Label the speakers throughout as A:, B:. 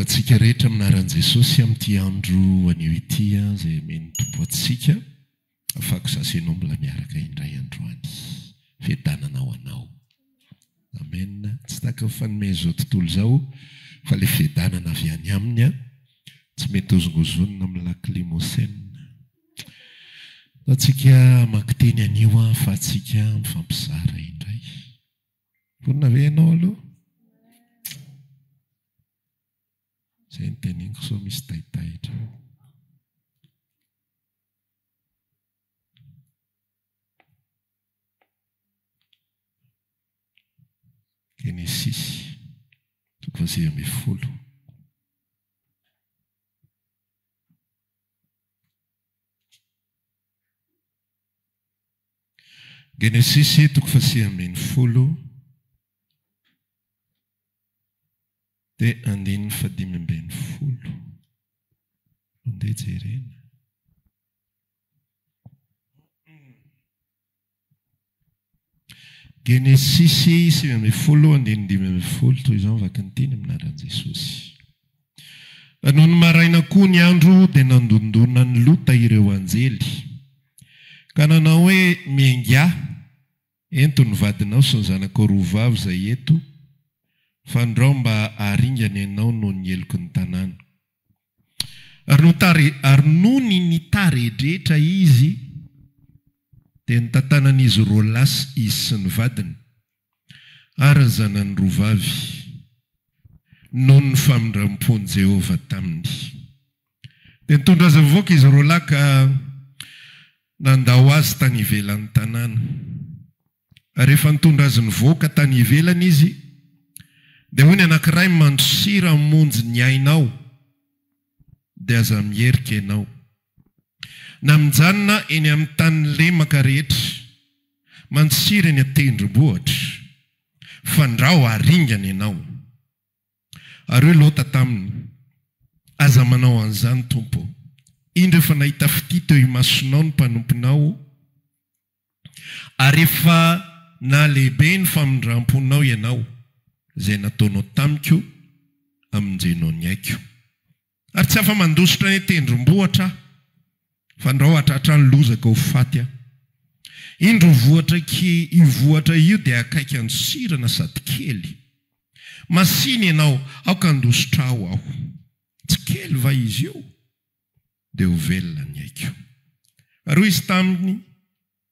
A: antsika rehetra amin'ny anaran'i Jesosy amin'ity andro anio ity izay omen'ny Tompo antsika. Afako sachet nom la miaraka indray androany fiadanana ho anao. Amen tsy takako fanome an'izao tontolo izao fa le fiadanana avy any aminy an tsy mety hozongozonina amin'ny lac limousin. Ataontsika hamaky teny anio ahafahantsika mifampizara indray. Vonona ve ianao aloha? Zay no teneniko sao misy taitaitra. Genesisy toko fahasivy ambin'ny folo. Genesisy toko fahasivy ambin'ny folo. Dia andininy fahadimy ambin'ny folo. Andeha jerena. Genesisy sivy ambin'ny folo, andininy dimy ambin'ny folo, toy izao ny vakiny teny amin'ny anaran'i Jesosy. Nony maraina koa ny andro, dia nandondona an'i Lota ireo anjely, ka nanao hoe, Miaingà! Ento ny vadinao sy ny zanakao roa vavy izay eto, fandrao mba haringana ianao noho ny heloky ny tanàna. Ary notari, ary nony nitaredretra izy, dia notantanan'izy roa lahy izy sy ny vadiny, ary ny zanany roa vavy, noho ny famindram-pon'i Jehovah taminy. Dia nitondra azy mivoaka izy roalahy ka nandao azy tany ivelan'ny tanàna. Ary rehefa nitondra azy nivoaka tany ivelany izy, dia hoy ny anankiray, Mandosira hamonjy ny ainao, dia aza mierika ianao. Na mijanona eny amin'ny tany lemaka rehetra, mandosira eny an-tendrombohitra, fandrao haringana ianao. Ary hoy Lota taminy, Aza manao an'izany, tompo ô! Indro efa nahita fitia teo imasonao ny mpanomponao, ary efa nahalehibe ny famindram-ponao ianao, izay nataonao tamiko amin-jeno ny aiko. Ary tsy afa-mandositra eny an-tendrombohitra aho, fandrao hahatratra ny lozako ho faty aho. Indro io vohitra io vohitra io dia akaiky andosirana sady kely. Masìna ianao, aoka handositrao aho. Tsy kely va izy io? Dia ho velona ny aiko. Ary hoy izy taminy,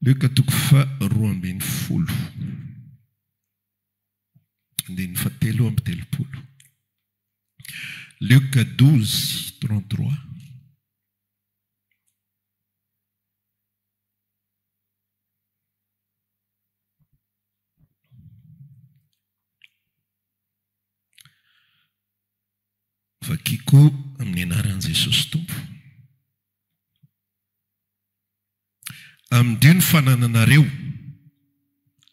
A: Lioka toko faha roa ambin'ny folo, andininy faha telo amby telopolo. Lioka douze, trente trois. Vakiko amin'ny anaran'i Jesosy Tompo. Amin'dio ny fanananareo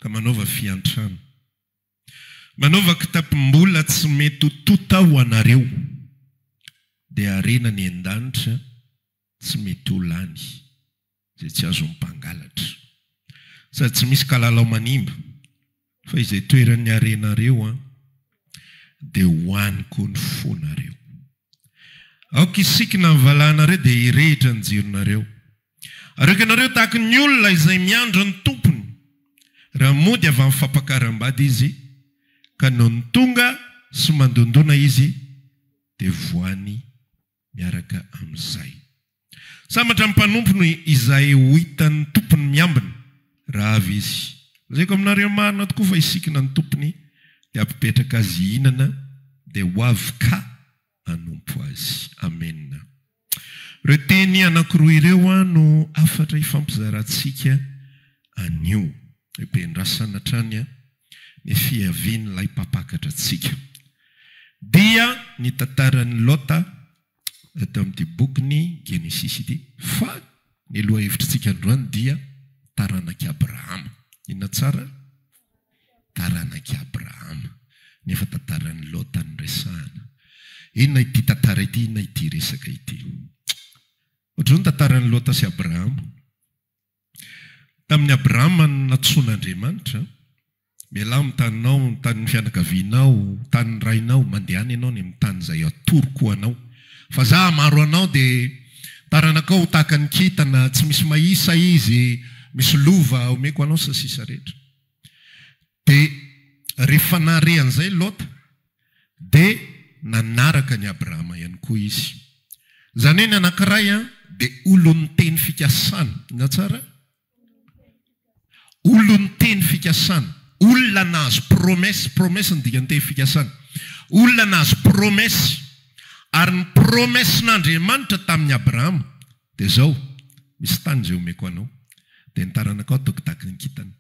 A: ka manaova fiantrana. Manaova kitapom-bola tsy mety ho tonta ho anareo, dia harena ny an-danitra tsy mety ho lany. Izay tsy azon'ny mpangalatra. Sady tsy misy kalalao manimba. Fa izay toeran'ny harenareo an. Dia ho any koa ny fonareo. Aoka hisikina ny valahanareo dia hirehitra ny jironareo. Areoko ianareo tahaka ny olona izay miandry ny tompony, raha mody avy amin'ny fampakaram-bady izy, ka nony tonga sy mandondona izy dia voany. Miaraka amin'izay, sambatra ny mpanompony izay ho hitan'ny tompony miambina, raha avy izy. Lazaiko aminareo marina tokoa fa hisikina ny tompony dia hampipetraka azy hihinana, dia ho avy ka hanompo azy. Amena. Ireo teny anankiroa ireo no hafatra hifampizarantsika anio. Be endrasana hatrany an! ny fiavian'ilay mpampakatra antsika. Dia ny tantaran'i Lota eto amin'ity bokin'ny Genesisy ity. Fa ny lohahevitritsika androany dia taranak'i Abrahama. Inona tsara? Taranak'i Abrahama. Nefa tantaran'i Lota no resahana. Inona ity tantara ity? Inona ity resaka ity? Hoatran'izao ny tantaran'i Lota sy Abrahama. Tamin'i Abrahama no nantsoin'Andriamanitra, Mialà amin'ny taninao, ny tanin'ny fianakavianao, ny tanin'ny rainao, mandehana ianao any amin'ny tany izay hatoroko ho anao. Fa Izaho hamaro anao, dia ny taranakao ho tahaka ny kintana, tsy misy mahisa izy, misy lova omeko anao sy ny sisa rehetra. Dia rehefa nahare an'izay Lota, dia nanaraka an'i Abrahama ihany koa izy. Izany hoe ny anankiray dia olon'ny teny fikasana. Inona tsara? Olon'ny teny fikasana. Olona nahazo promesse. Promesse no dikan'ny teny fikasana. Olona nahazo promesse. Ary ny promessen'Andriamanitra tamin'i Abrahama dia izao, Misy tany izay homeko anao, dia ny taranakao hataoko tahaka ny kintana.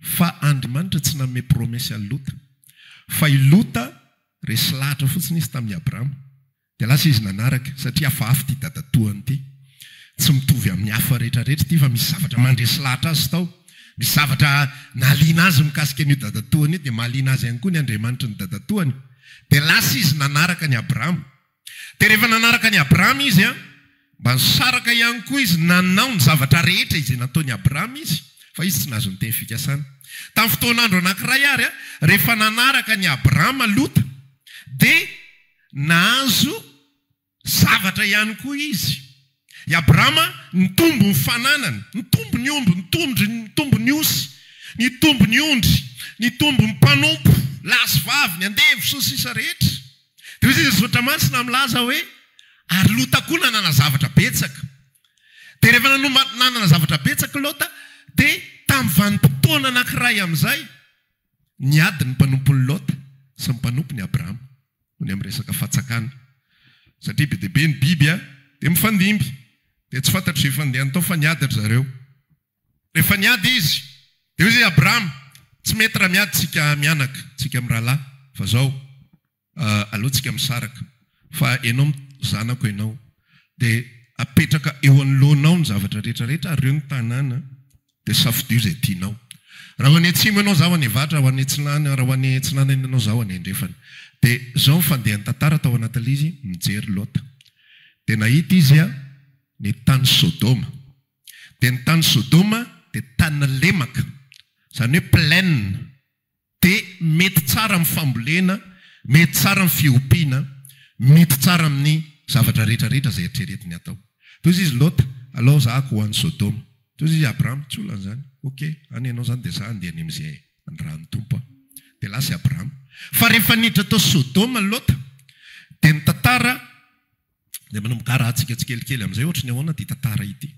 A: Fa Andrimanitra tsy nanome promesse an'i Lota. Fa i Lota resy lahatra fotsiny izy tamin'i Abrahama. Dia lasa izy nanaraka. Satria hafahafa ity dadatoany ity. Tsy mitovy amin'ny hafa rehetrarehetra ity fa misy zavatra mandresy lahatra azy tao. Misy zavatra nahaliana azy mikasika an'io dadatoany io dia mahaliana azy ihany koa ny Andriamanitry ny dadatoany. Dia lasa izy nanaraka an'i Abrahama. Dia rehefa nanaraka an'i Abrahama izy, mba nisaraka ihany koa izy nanao ny zavatra rehetra izay nataon'i Abrahama izy, fa izy tsy nahazo ny teny fikasana. Tamin'ny fotoan'andro anankiray àry, rehefa nanaraka an'i Abrahama Lota, dia nahazo zavatra ihany koa izy. I Abrahama nitombo ny fananany, nitombo ny omby, nitombo ny osy, nitombo ny ondry, nitombo ny mpanompo, lahy sy vavy, ny andevo, sy ny sisa rehetra. Dia hoy Jesosy Soratra Masina milaza hoe, Ary Lota koa nanana zavatra betsaka. Dia rehefa nanana zavatra betsaka i Lota, dia tamin'ny vanim-potoana anankiray amin'izay, Ny ady ny mpanompon'i Lota sy ny mpanompon'i Abrahama no ny amin'ny resaka fatsakana. Satria be dia be ny biby an, dia mifandimby. Dia tsy fantatry izay fandehany tao fa niady ry zareo. Rehefa niady izy, dia hoy izy i Abrahama, tsy mety raha miady tsika mianaka, tsika mirahalahy, fa izao. aleo tsika misaraka fa enao zanako enao de apetraka eo anoloanao ny zavatra rehetra rehetra ary reo ny tanàna de safidio zay tianao raha ho any atsimo enao za ho any avatra raha ho any atsinana raha ho any atsinanana enao za ho any andrefana de zao ny fandehan'ny tantara tao anatin'ilay izy mijery lota de nahita izy a ny tany sodoma de ny tany sodoma de tanina lemaka zany hoe plaine Dia mety tsara amin'ny fambolena, mety tsara amin'ny fiompiana, mety tsara amin'ny zavatra rehetra rehetra izay eritreretiny atao. Toy izay izy Lota, alao zahako ho any Sodoma. Toy izay izy Abraham, tsy olana izany. Ok, any ianao izany dia za handeha any amin'izay anirahan'ny Tompo aho. Dia lasa i Abraham. Fa rehefa niditra tao Sodoma Lota, dia ny tantara dia manomboka harahantsika tsikelikely amin'izay ohatry ny ahoana ity tantara ity.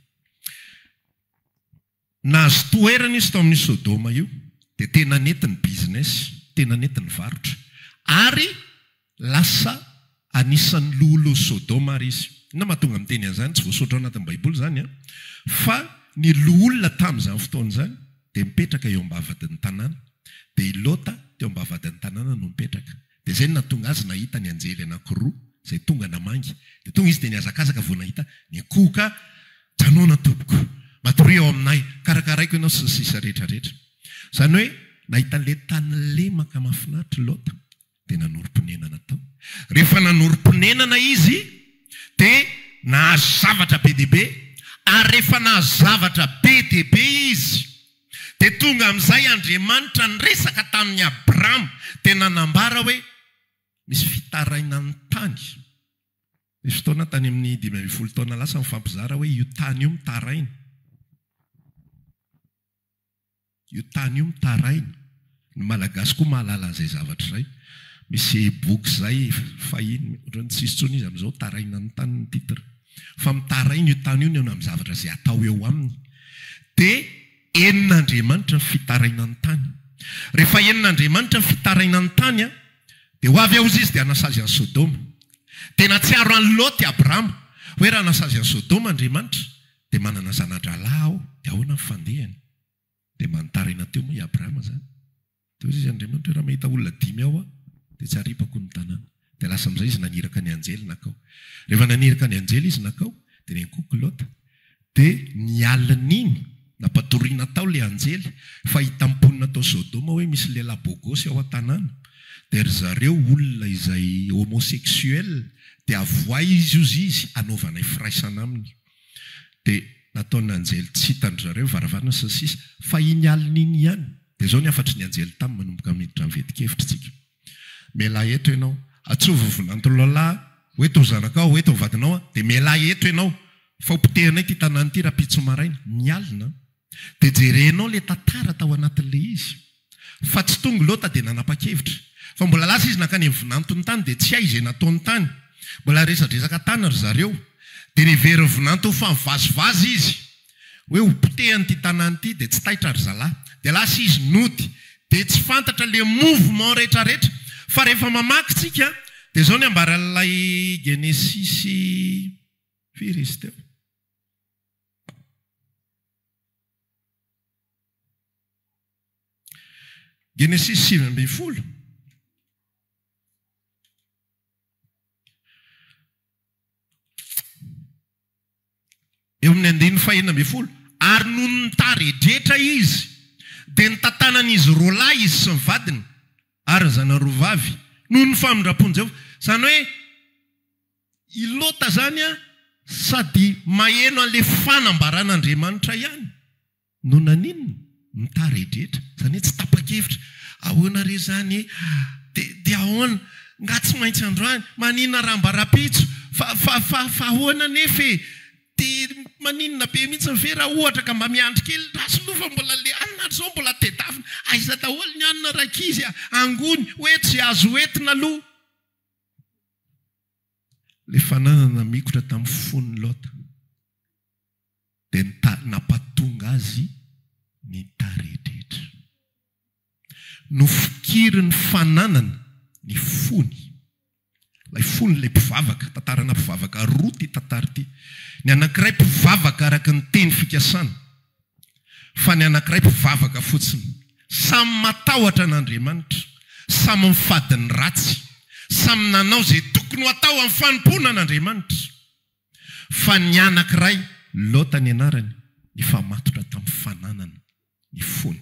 A: Nahazo toerana izy tao amin'io Sodoma io dia tena nety ny business, tena nety ny varotra ary lasa anisan'ny loholon'i Sodoma ary izy. Inona no mahatonga miteny an'izany? Tsy voasoratra ao anatin'ny Baiboly izany an, fa ny loholona tamin'izany fotoana izany dia mipetraka eo am-bavahadin'ny tanàna, dia i Lota teo am-bavahadin'ny tanàna no mipetraka. Dia izay no nahatonga azy nahita ny anjely anankiroa izay tonga namangy. Dia tonga izy dia nihazakazaka vao nahita ny akoho ka, Janona tompoko, matoria ao aminay, karakaraiko ianao sy ny sisa rehetra rehetra. Izany hoe nahita an'ilay tany lemaka mahafinaritra i Lota dia nanorim-ponenana tao. Rehefa nanorim-ponenana izy dia nahazo zavatra be dia be ary rehefa nahazo zavatra be dia be izy, Dia tonga amin'izay Andriamanitra niresaka tamin'i Abrama, dia nanambara hoe misy fitarainan'ny tany. Nisy fotoana tany amin'ny dimy ambin'ny folo taona lasa nifampizara hoe io tany io mitaraina. Io tany io mitaraina. Ny Malagasy koa mahalala an'izay zavatra izay. Misy e-book izay fahiny, ohatran'ny tsy hisy intsony izy amin'izao, Taraina ny tany ny titre. Fa mitaraina io tany io ny eo amin'ny zavatra izay atao eo aminy. Dia henon'Andriamanitra ny fitaraina ny tany. Rehefa henon'Andriamanitra ny fitaraina ny tany an, dia ho avy aozy Izy dia hanasazy an'i Sodoma. Dia nahatsiaro an'i Lot i Abrahama, hoe raha hanasazy an'i Sodoma Andriamanitra, dia manana zana-drahalahy aho, dia ahoana ny fandehany? Dia manitaraina teo moa i Abrahama izany. Dia hoy izy, Andriamanitro hoe, raha mahita olona dimy ao aho, dia tsy haripako ny tanàna. Dia lasa amin'izay izy naniraka ny anjely nankao. Rehefa naniraka ny anjely izy nankao, dia niankohoka i Lota. Dia ny alin'iny, nampatoriana tao ilay anjely, fa hitam-ponina tao Sodoma hoe misy lehilahy bôgôsy ao an-tanàna. Dia ry zareo olona izay homosexuel, dia avohay izy hozy izy, hanaovanay firaisana aminy. dia nataon'ny anjely tsy hitan-dry zareo varavarana sy ny sisa fa iny alina iny ihany dia izao ny hafatry ny anjely taminy manomboka miditra ny veti-kevitra isika mialà eto ianao atsoa vovon'antoloalahy ho eto ry zanakao ho eto ny vadinao dia mialà eto ianao fa ho potehinay ity tanàna ity rahampitso maraina ny alina Dia jerenao ilay tantara tao anatin'ilay izy fa tsy tonga i Lota dia nanapa-kevitra fa mbola lasa izy nankany amin'ny vinantony tany dia tsy hay izay nataony tany. Mbola resadresaka tany ry zareo dia niverin'ny vinanto ho famivazivazy izy hoe ho potehany ity tanàna ity dia tsy taitra ry zalahy. Dia lasa izy nody dia tsy fantatra ilay mouvement retraretra fa rehefa mamaky tsika dia izao ny ambaran'ilay Genesisy firy izy teo? Genesisy sivy ambin'ny folo. Eo amin'ny andininy fahenina ambin'ny folo. Ary nony nitaredretra izy, dia nitantanan'izy roa lahy izy sy ny vadiny ary ny zanany roa vavy noho ny famindram-pon'i Jehovah. Izany hoe, I Lota izany sady maheno an'ilay fanambaran'Andriamanitra ihany no naninona? Mitaredretra, izany hoe tsy tapa-kevitra. Ahoana re izany? Dia ahoana? Nga tsy maintsy androany? Maninona raha mba rahampitso? Fa, fa, fa, fa ahoana anefa e? Dia maninona be mihitsy ve raha ohatra ka mba miandry kely? Ndra sinoa fa mbola le hanina hatrizao mbola tedavina. Aiza daholo ny hanina rankizy a? Angony, hoe tsy azo entina aloha. Ilay fananana namikotra tamin'ny fon'i Lota dia nitady nampatonga azy nitaredretra. Nofikirin'ny fananany ny fony. Ilay fony ilay mpivavaka, tantarana mpivavaka roa ity tantara ity. Ny anankiray mpivavaka araka ny teny fikasana. fa ny anankiray mpivavaka fotsiny. Samy matahotra an'Andriamanitra, samy mifady ny ratsy, samy nanao izay tokony ho atao amin'ny fanompoana an'Andriamanitra. Fa ny anankiray, Lota ny anarany, nifamatotra tamin'ny fananana ny fony.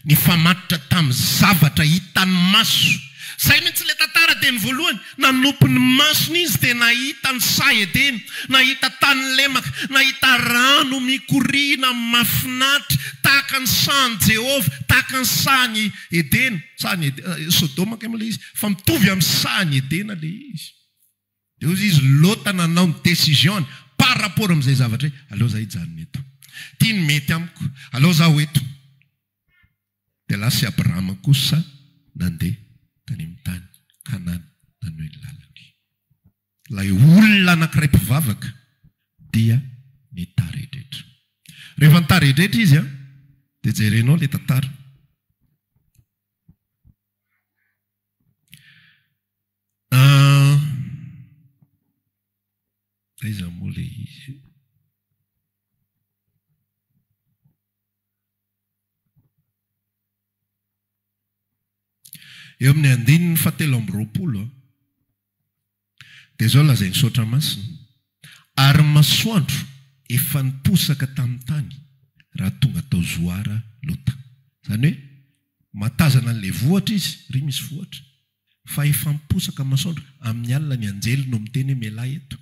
A: Nifamatotra tamin'ny zavatra hitan'ny maso. Izay mihitsy ilay tantara dia ny voalohany, nanopy ny masony izy dia nahita ny saha Edena, nahita tany lemaka, nahita rano mikoriana mahafinaritra tahaka ny sahan'i Jehovah, tahaka ny sahan'i Edena, sahan'i Edena, Sodoma kay moa ilay izy, fa mitovy amin'ny sahan'i Edena ilay izy. De hozy izy, Lota nanao ny décision-ny par rapport amin'izay zavatra izay, aleo za hijanona eto. Ty ny mety amiko, aleo za ho eto. De lasa i Abrahama kosa nandeha tany amin'ny tany Kanana nanohy ny lalany. Ilay olona anankiray mpivavaka dia nitaredretra. Rehefa nitaredretra izy an, dia jerenao ilay tantara. Aiza moa ilay izy io? Eo amin'ny andininy fahatelo amby roapolo an, dia izao lazain'ny Misaotra Masina, Ary ny masoandro efa niposaka tamin'ny tany raha tonga tao Zoara Lota. Izany hoe, mahatazana an'ilay vohitra izy, ry misy vohitra, Fa efa miposaka amin'ny masoandro. Amin'ny alina ny anjely no miteny hoe mialà eto.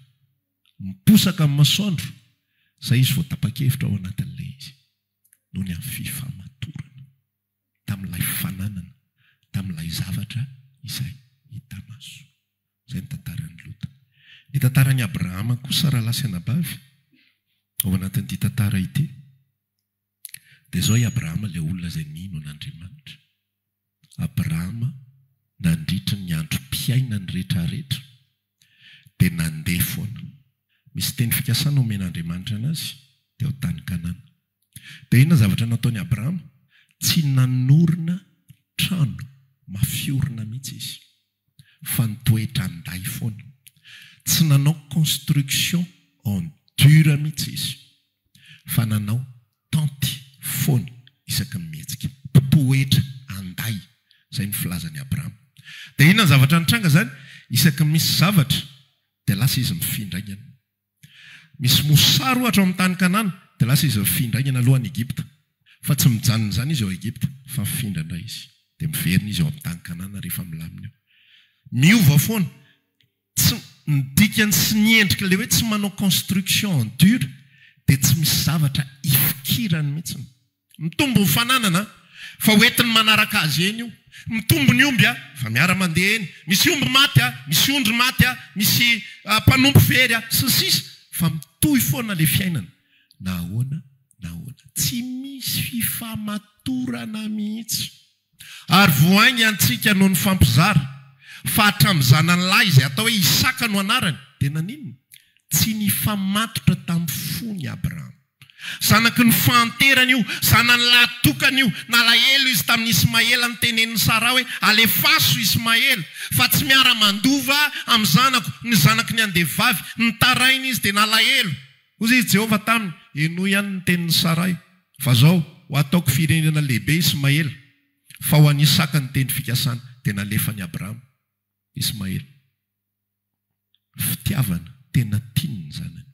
A: Miposaka amin'ny masoandro. Izay izy vao tapa-kevitra ao anatin'ilay izy. Noho ny fifamatorana. Tamin'ilay fananana. Tamin'ilay zavatra izay hita maso. Izay ny tantaran'i Lota. Ny tantaran'i Abrahama kosa rahalahy sy anabavy ao anatin'ity tantara ity. Dia izao i Abrahama ilay olona izay nino an'Andriamanitra. Abrahama nandritry ny androm-piainany rehetrarehetra dia nandeha foana. Misy teny fikasana omen'Andriamanitra an'azy teo tany Kanana. Dia inona ny zavatra nataon'i Abrahama? Tsy nanorina trano mafy orina mihitsy izy. fa ny toetrandahy foana. Tsy nanao construction en dur mihitsy izy fa nanao tente foana isaky ny mihetsika. Mpitoetra andahy, izay no filazan'i Abraham. Dia inona ny zavatra nitranga izany? Isaky ny misy zavatra dia lasa izy mifindraingana. Misy mosary ohatra ao amin'ny tany Kanana, dia lasa izy mifindra aingana aloha any Egypta. Fa tsy mijanona amin'izany izy ao Egypta, fa mifindra indray izy. Dia miverina izy ao amin'ny tany Kanana rehefa milamina eo. Miova foana. Tsy, ny dikany sy ny endrika, ilay hoe tsy manao construction en dur, dia tsy misy zavatra ifikirany mihitsy. Mitombo ny fananana fa ho entin'ny manaraka azy eny io. Mitombo ny omby fa miara-mandeha eny. Misy omby maty, misy ondry maty, misy mpanompo very, sy ny sisa Fa mitohy foana ilay fiainana na ahoana na ahoana. Tsy misy fifamatorana mihitsy. Ary vohainy antsika no nifampizara, fa hatramin'ny zanany lahy izay atao hoe Isaka no anarany, dia naninona? Tsy nifamatotra tamin'ny fony Abrahama. Zanaky ny fahanterana io, zanany lahy tokana io. Nalahelo izy tamin'i Ismaela nitenenin'i Saraha hoe, Alefaso Ismaela, fa tsy miara-mandova amin'ny zanako, ny zanaky ny andevo vavy. Nitaraina izy dia nalahelo. Hoy i Jehovah taminy, Henoy ihany ny tenin'i Saray, fa izao, ho ataoko firenena lehibe i Ismaela, fa ho an'i Isaka ny tendro fikasana. Dia nalefan'i Abrahama Ismaela. Fitiavana, tena tiany ny zanany,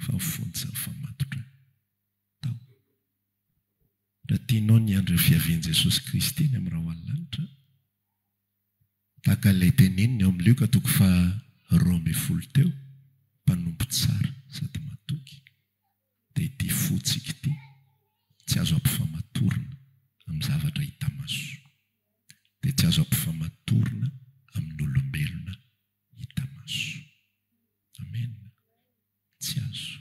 A: fa ny fony tsy nifamatotra tao. Raha tianao ny hiandry ny fiavian'i Jesosy Kristy any amin'ny rahona lanitra, Tahaka ilay tenenin'i ao amin'ny Lioka toko faha roa ambin'ny folo teo, mpanompo tsara sady matoky, dia ity fontsika ity, tsy azo ampifamatorina amin'ny zavatra hita maso, dia tsy azo ampifamatorina amin'ny olombelona hita maso. Amen. Tsy azo.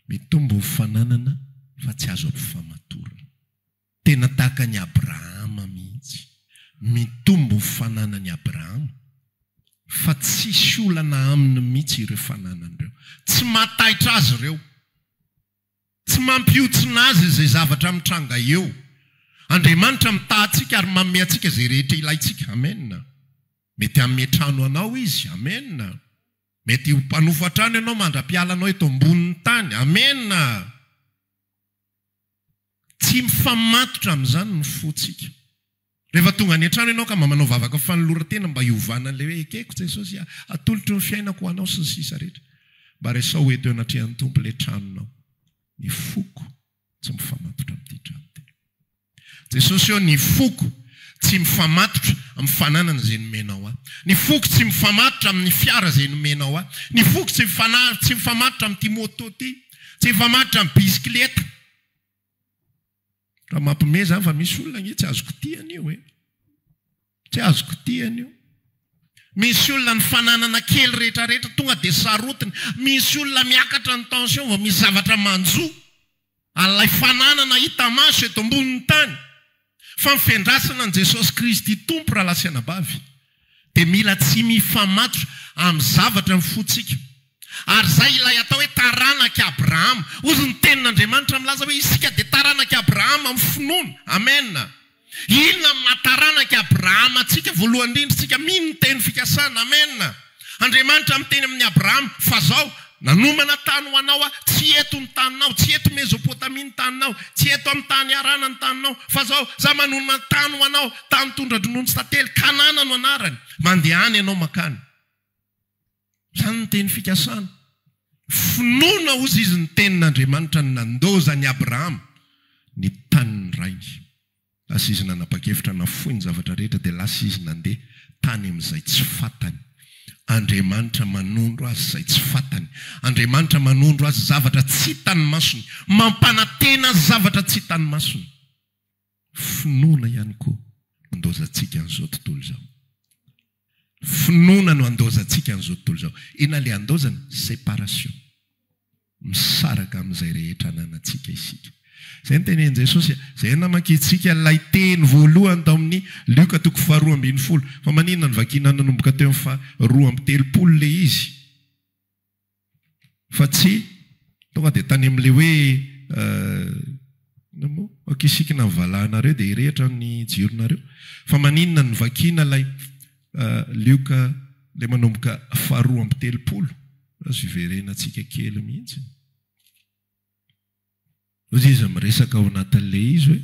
A: Mitombo ho fananana fa tsy azo ampifamatorina. Tena tahaka an'i Abrahama mihitsy. Mitombo fananan'i Abrahama, fa tsisy olana aminy mihitsy ireo fananany ireo. Tsy mahataitra azy ireo. Tsy mampihontsina azy izay zavatra mitranga eo. Andriamanitra mitaha antsika ary manome antsika izay rehetra ilaintsika. Amen. Mety hanome trano ho anao Izy. Amen. Mety ho mpanofo trano ianao mandra-pialanao eto ambonin'ny tany. Amen. Tsy mifamatotra amin'izany ny fontsika. Rehefa tonga any an-trano ianao ka mba manao vavaka fanoloran-tena mba hiovanan'ilay hoe ekeko Jesosy a, atolotro ny fiainako ho anao sy ny sisa rehetra. Mba resaho eto eo anatrehan'ny Tompo ilay tranonao. Ny foko tsy mifamatotra amin'ity trano ity. Jesosy ô, ny foko tsy mifamatotra amin'ny fananana izay nomenao ahy. Ny foko tsy mifamatotra amin'ny fiara izay nomenao ahy. Ny foko tsy tsy mifamatotra amin'ity moto ity. Tsy mifamatotra amin'ny bisikileta. Raha mampime zany fa misy olona anie tsy azoko tia anio e. Tsy azoko tia anio. Misy olona ny fananana kely rehetrarehetra tonga dia sarotiny. Misy olona miakatra ny tension vao misy zavatra manjo an'ilay fananana hita maso eto ambonin'ny tany. Fa ny fiandrasana an'i Jesosy Kristy Tompo rahalahy sy anabavy dia mila tsy mifamatotra amin'ny zavatra ny fontsika. Ary izay ilay atao hoe taranak'i Abrahama. Hozy ny tenin'Andriamanitra milaza hoe isika dia taranak'i Abrahama amin'ny finoana. Amen. Inona no maha taranak'i Abrahama antsika? Voalohany indrindra, isika mino ny teny fikasana. Amen. Andriamanitra miteny amin'i Abrahama, Fa zao, nanomana tany ho anao aho, tsy eto ny taninao, tsy eto Mezopotamia ny taninao, tsy eto amin'ny tany Harana ny taninao, fa zao, za manonona tany ho anao, tany tondra-dronono sy tantely, Kanana no anarany. Mandehana ianao mankany. Izany no teny fikasana. Finoana hozy izy ny tenin'Andriamanitra ny nandoza an'i Abrahama ny tanin'ny rainy. Lasa izy nanapa-kevitra nafoy ny zavatra rehetra dia lasa izy nandeha tany amin'izay tsy fantany. Andriamanitra manondro azy izay tsy fantany. Andriamanitra manondro azy zavatra tsy hitan'ny masony. Mampanantena azy zavatra tsy hitan'ny masony. Finoana ihany koa no andaozantsika an'izao tontolo izao. Finoana no andaozantsika an'izao tontolo izao. Inona ilay andaozana? Séparation. misaraka amin'izay rehetra ananantsika isika. Izay no tenenin'i Jesosy e. Izay namakintsika ilay teny voalohany tao amin'ny Lioka toko faharoa ambin'ny folo. Fa maninona no vakina nanomboka teo amin'ny faharoa amby telopolo ilay izy fa tsy tonga dia tany amin'ilay hoe Kisikina ny valahanareo dia hirehitra ny jironareo. Fa maninona no vakiana ilay Lioka ilay manomboka faharoa amby telopolo? Azo hiverenantsika kely mihitsy. Hoy izy miresaka ao anatin'ilay izy hoe.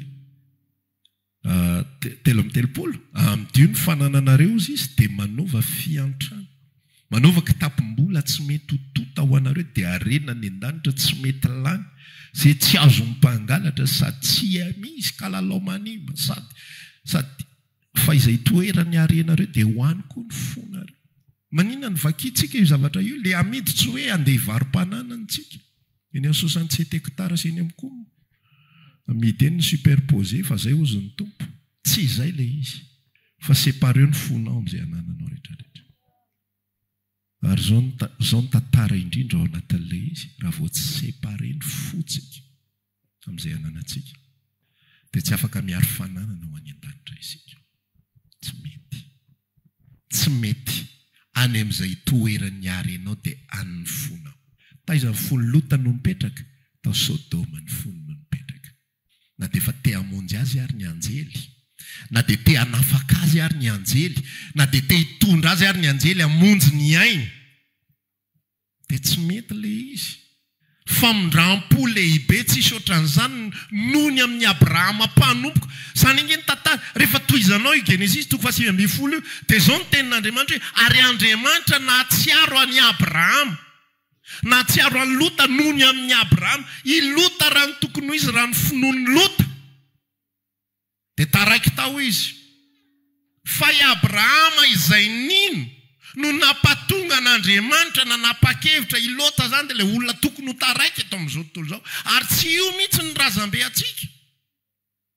A: telo amby telopolo, amidio ny fanananareo, hozy izy, dia manaova fiantrana, manaova kitapom-bola tsy mety ho tonta ho anareo, dia harena any an-danitra tsy mety lany, izay tsy azon'ny mpangalatra, sady tsy misy kalalao manimba, sady, sady, fa izay itoeran'ny harenareo dia ho any koa ny fonareo. Maninona no vakintsika io zavatra io? Ilay amidy tsy hoe handeha hivarom-pananantsika. Eny amin'ny soixante sept hectares eny amin'ny coum. Amidy eny ny superposé fa zay hozy ny tompo. Tsy izay ilay izy fa separeo ny fonao amin'izay anananao rehetra rehetra. Ary izao no izao no tantara indrindra ao anatin'ilay izy raha vao tsy séparé ny fontsika amin'izay ananantsika dia tsy afaka miaro fananana ho any an-danitra isika. Tsy mety. Tsy mety. Any amin'izay itoeran'ny harenao dia any ny fonao. Taiza ny fon'i Lota no nipetraka? Tao Sodoma ny fony no nipetraka. Na dia efa te hamonjy azy ary ny anjely, na dia te hanafaka azy ary ny anjely, na dia te hitondra azy ary ny anjely hamonjy ny ainy, Dia tsy mety ilay izy. Famindram-po lehibe tsisy ohatran'izany noho ny amin'i Abrahama mpanompoko. Izany ange ny tantara. Rehefa tohizanao io Genesisy toko fahasivy ambin'ny folo io, dia izao no tenin'Andriamanitra hoe, Ary Andriamanitra nahatsiaro an'i Abrahama. Nahatsiaro an'i Lota noho ny amin'i Abrahama. I Lota raha ny tokony ho izy, raha ny finoan'i Lota. Dia taraiky tao izy. Fa i Abrahama izay nino no nampatonga an'Andriamanitra nanapa-kevitra. I Lota izany dia ilay olona tokony ho taraiky eto amin'izao tontolo izao. Ary tsy io mihitsy ny razambe antsika.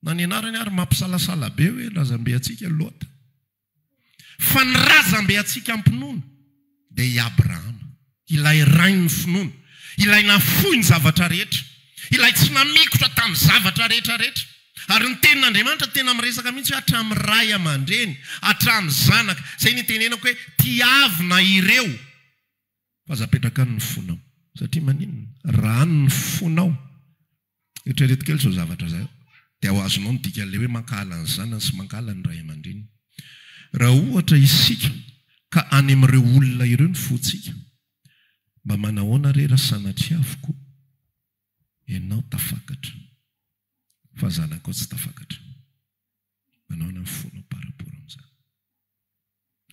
A: Na ny anarany ary mampisalasala be hoe razambe antsika Lota. Fa ny razambe antsika am-pinoana dia i Abrahama, ilay rain'ny finoana, ilay nahafoy ny zavatra rehetra, ilay tsy namikotra tamin'ny zavatra rehetrarehetra. Ary ny Tenin'Andriamanitra tena miresaka mihitsy hoe hatramin'ny ray aman-dreny, hatramin'ny zanaka. Izay nitenenako hoe, Tiavina ireo. Fa aza apetraka any ny fonao. Satria maninona? Raha any ny fonao. Eritrereto kely izao zavatra izao, dia ho azonao ny dikan'ilay hoe mankahala ny zanany sy mankahala ny ray aman-dreniny. Raha ohatra isika ka any amin'ireo olona ireo ny fontsika, mba manahoana re raha sanatria avokoa ianao tafakatra, fa zanakao tsy tafakatra? Manao any am fonao par rapport amzany.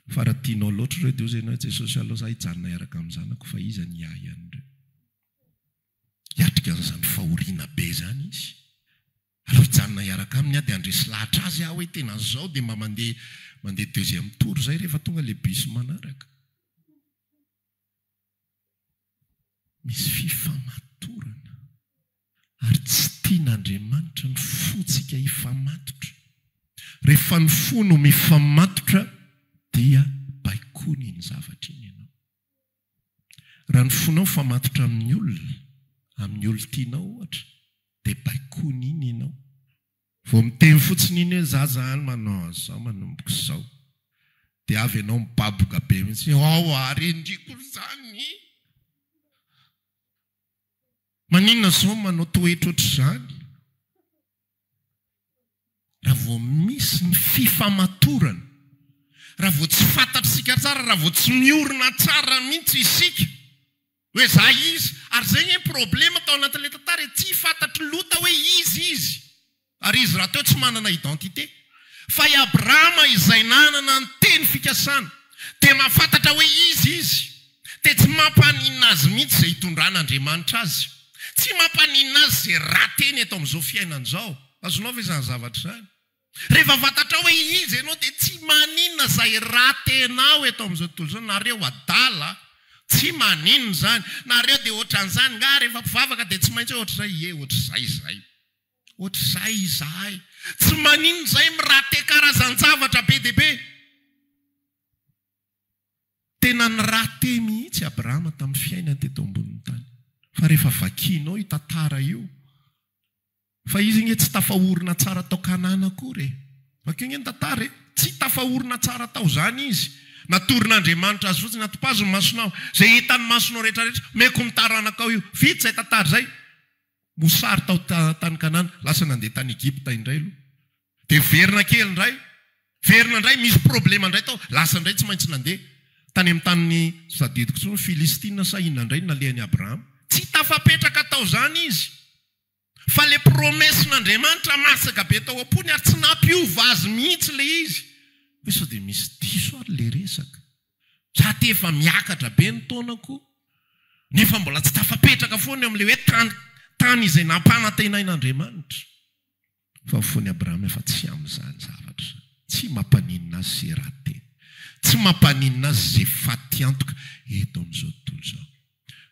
A: Fa ra tianao loatra ireo de ozy enao Jesosy alou za hijanona hiaraka am zanako fa iza ny hiahy anreo. Hiatrika anzany fahoriana be zany izy. Alou hijanona hiaraka aminy ah de andresy lahatra azy ah oe tena zao de mba mandeha mandeha deuxième tour zay rehefa tonga le bus manaraka. Misy fifamatorana ary tsy tian'Andriamanitra ny fontsika hifamatotra. Rehefa ny fo no mifamatotra dia baikony iny zavatra iny ianao. Raha ny fonao mifamatotra amin'ny olona, amin'ny olon-tianao ohatra dia baikony iny ianao. Vao miteny fotsiny iny hoe za zany manao an'izao manomboka izao dia avy ianao mibaboka be mihitsy hoe ao ary endriko ry zany! Maninona izao no manao toetra ohatr'izany? Raha vao misy ny fifamatorana, raha vao tsy fantatr'isika tsara, raha vao tsy miorina tsara mihitsy isika, Hoe za izy, ary zay anie ny problema tao anatin'ilay tantara e, tsy fantatr'i Lota hoe iza izy, ary izy rahateo tsy manana identité. Fa i Abrahama izay nanana ny teny fikasana, dia mahafantatra hoe iza izy, dia tsy mampaninona azy mihitsy izay hitondran'Andriamanitra azy. Tsy mampaninona azy izay rateny eto amin'izao fiainana izao. Azonao ve izany zavatra izany? Rehefa fantatrao hoe iza ianao dia tsy maninona izay ratenao eto amin'izao tontolo izao. Nareo adala tsy maninona izany. Nareo dia ohatran'izany angaha rehefa mpivavaka dia tsy maintsy hoe ohatr'izay. Ie, ohatr'izay izahay. Ohatr'izay izahay. Tsy maninona izay mirate karazan-javatra be dia be. Tena nirate mihitsy Abrahama tamin'ny fiainany teto ambonin'ny tany. Fa rehefa vakianao io tantara io. Fa izy nge tsy tafaorina tsara tao Kanana akory e! Vakio nge ny tantara e! Tsy tafaorina tsara tao zany izy. Natoron'Andriamanitra azy fotsiny, Atopazo ny masonao, zay hitan'ny masonao rehetra rehetra, omeko ny taranakao io. Vita zay tantara zay. Mosary tao tany Kanana, lasa nandeha tany Egypta indray aloha. De verina kely indray, verina indray, misy problema indray tao, lasa indray tsy maintsy nandeha. Tany amin'ny tany tsy tadidiko tsony, Filistina sa inona indray no nalehan'i Abrahama. Tsy tafapetraka tao zany izy. Fa ilay promesin'Andriamanitra masaka be tao am-pony ary tsy nampiova azy mihitsy ilay izy. Hoe sao dia misy diso ary ilay resaka? Za ty efa miakatra be ny taonako nefa mbola tsy tafapetraka foana eo amin'ilay hoe tany tany izay nampanantenain'Andriamanitra. Fa ny fon'i Abrahama efa tsy amin'izany zavatra. Tsy mampaninona azy izay ratsy teny. Tsy mampaninona azy izay faty antoka eto amin'izao tontolo izao.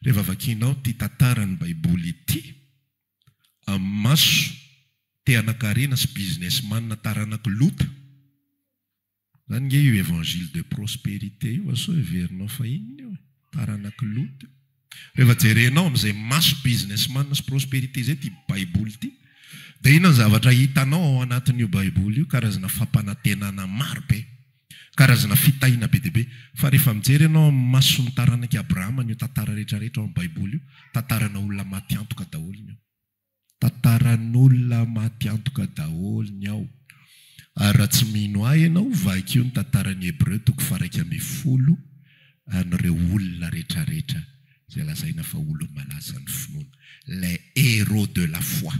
A: Rehefa vakianao ity tantaran'ny Baiboly ity amin'ny maso te-hanan-karena sy businessman taranak'i Lota, Zany nge io évangile de prospérité io asao heverinao fa inona io e? Taranak'i Lot io. Rehefa jerenao amin'izay maso businessman sy prospérité izay ity baiboly ity dia inona ny zavatra hitanao ao anatin'io baiboly io? Karazana fampanantenana maro be, karazana fitahiana be dia be. Fa rehefa mijery ianao amin'ny mason'ny taranak'i Abrahama an'io tantara rehetra rehetra ao amin'ny baiboly io, tantarana olona maty antoka daholo ny ao. Tantaran'olona maty antoka daholo ny ao. Ary raha tsy mino ahy ianao, vakio ny Tantaran'ny Hebreo toko faharaika ambin'ny folo, an'ireo olona rehetrarehetra izay lazaina fa olon'ny malazan'ny finoana. Les héros de la foi.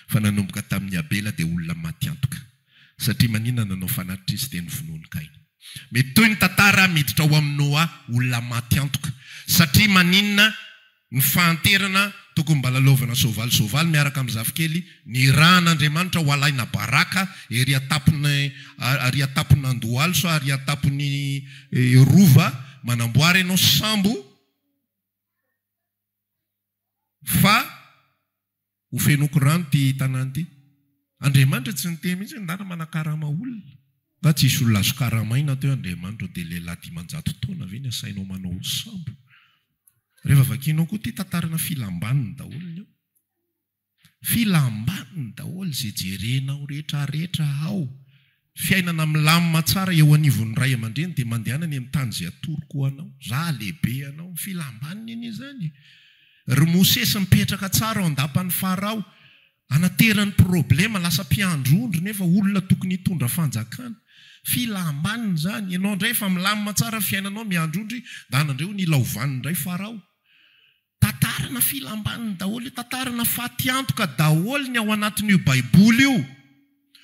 A: Fa nanomboka tamin'i Abela dia olona maty antoka. Satria maninona nanao fanatr'izy teny ny finoan'i Kaina? Mety toy ny tantara miditra ao amin'i Noa, olona maty antoka. Satria maninona Ny fahanterana tokony mba lalaovana soavaly soavaly miaraka amin'ny zafikely nirahan'Andriamanitra ho alaina baraka ery an-tampon'ny ary an-tampon'Andohalo sa ary an-tampon'ny Rova manamboara ianao sambo fa Ho fenoiko rano ity tanàna ity. Andriamanitra tsy niteny mihitsy ny dada manakarama olona. Nga tsy hisy olona azo karamaina teo Andriamanitra dia lehilahy dimanjato taona ve ny asainao manao ho sambo? Rehefa vakianao koa ity tantarana filam-baniny daholo ny ao. Filam-baniny daholo izay jerenao rehetra rehetra ao. Fiainana milamina tsara eo anivon'ny ray aman-dreny dia mandehana any amin'ny tany izay atoroko ho anao. Izaho halehibe anao. Filam-baniny anie izany e! Ry Mosesy mipetraka tsara ao an-dapan'i Farao. Anaterany problema, lasa mpiandry ondry nefa olona tokony hitondra fanjakana. Filam-baniny izany. Ianao indray efa milamina tsara ny fiainanao miandry ondry, ndana indray ho nilaovan'ny indray Farao. Tantarana filam-baniny daholo io, tantarana fatiantoka daholo ny ao anatin'io baiboly io,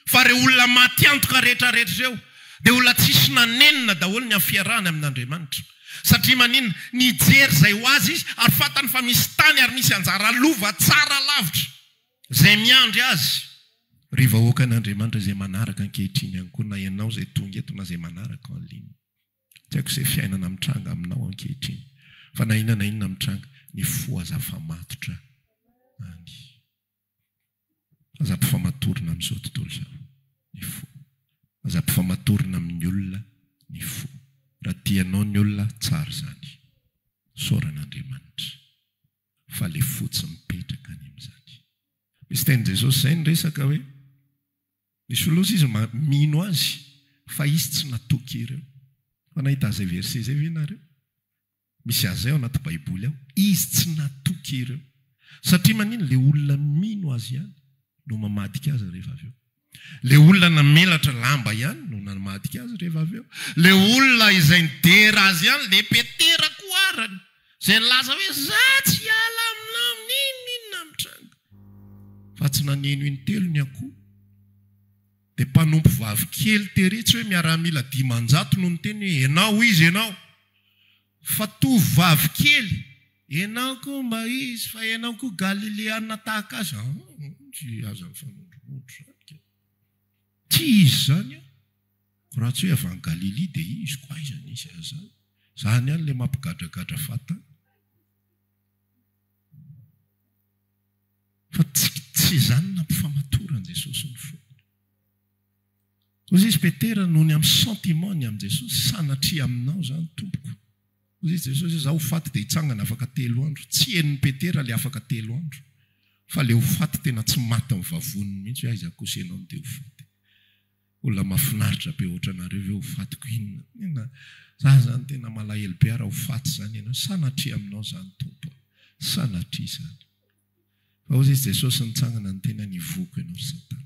A: fa ireo olona maty antoka rehetrarehetra ireo dia olona tsisy nanenina daholo ny amin'ny fiarahany amin'Andriamanitra. Satria maninona? Nijery izay ho azy izy ary fantany fa misy tany ary misy anjara lova tsara lavitra izay miandry azy. Ry vahoakan'Andriamanitra izay manaraka ankehitriny ihany koa na ianao izay tonga eto na izay manaraka en ligne. Tiako izay fiainana mitranga aminao ankehitriny fa na inona na inona mitranga ny fo aza afamatotra any aza ampifamatorina amin'izao tontolo izao ny fo aza ampifamatorina amin'ny olona ny fo raha tianao ny olona tsara izany isaorana Andriamanitra fa le fo tsy mipetraka any amin'izany misy tenin'i Jesosy izay ny resaka hoe Misy olona osa izy ma mino azy fa izy tsy natoky ireo. Fa nahita an'izay verset izay ve nareo? Misy azy zay ao anaty baiboly ao. Izy tsy natoky ireo. Satria manino? Le olona mino azy ihany no mamadika azy rehefa avy eo. Le olona namelatra lamba ihany no namadika azy rehefa avy eo. Le olona izay nidera azy ihany, le Petera koa arany, Izay nilaza hoe za tsy hiala aminao n'inon'inona mitranga. Fa tsy naneno intelo ny akoho. Dia mpanompo vavy kely tery tsy hoe miaramila dimanjato no niteny hoe enao ho izy enao. Fa tovovavy kely, enao koa mba izy fa enao koa galileana tahaka azy a. Tsy aza mifanondromondro zany kay. Tsy izy zany a. Raha tsy hoe avy any Galilia dia izy koa aiza nisy an'izany? Izany ihany ilay mampigadragadra vatana. Fa tsy izany nampifamatoran'i Jesosy ny fony. Hoy izy Petera nony amin'ny sentiment-ny amin'i Jesosy, sanatria aminao izany Tompoko. Hoy izy Jesosy hoe izaho ho faty dia hitsangana afaka telo andro. Tsy henon'i Petera ilay afaka telo andro, fa ilay ho faty tena tsy matin'ny vavoniny mihitsy hoe aiza kosa ianao no dia ho faty. Olona mafinaritra be otranareo ve ho fatiko inona inona za zany tena malahelo be ara ho faty zany enao sanatria aminao zany tompo a sanatria zany fa ozy izy jesosy nitsangana niteny any ivoko enao ry satana